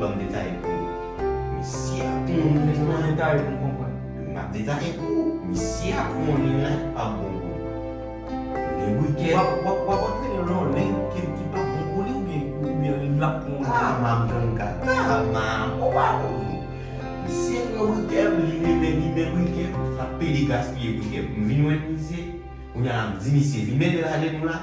Banm detaye pou ou. Misye ap mouri la. Fòw detaye poum konprann. Map detaye pou ou. Misye ap mouri la pap bon pou li. Ni wikèt. Wap antre nan yon leng ki pap bon pou li oubyen lap mouri. Ah map jwenn kaka ma ou pa bon non. Misye pran brikèl li renmen limen brikèl lap pede gaspiye brikèl. M vin wè misye. Kounya la m di misye limen de lagen nou la.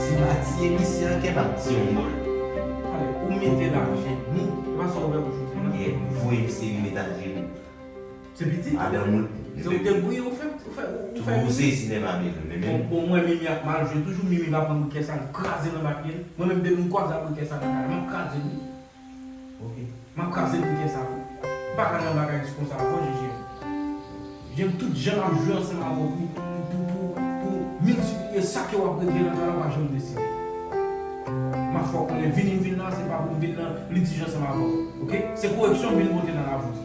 Se pa ti emisyon kem ap di yon mòl. Tale ou mete lajen nou. Se pa sa ou wè bouch ou fè la. Ye voye yon seri metal jenou. Se piti. Madanm ou. Se ou te gouye ou fè ou fè mimi. Tou ou se si nèg la bezwen men menm. Bon mwen mimi ap mal jwe toujou mimi va pran brikè sal kraze nan baky mwen menm depi m kwaze ak brikè sal nan kay la map kraze wi. Ok map kraze bouke sa wi. M paka nan bagay ti konsa ankò Jejel. Jejel tout jan map jwe ansanm avèw pou pou pou pou miltipliye sa ke wap regle nan talan pa janm deside. Map fè w konnen vini m vin la se pa pou m vin nan litij ansanm avèw ok. Se koreksyon m vin pote nan lavim.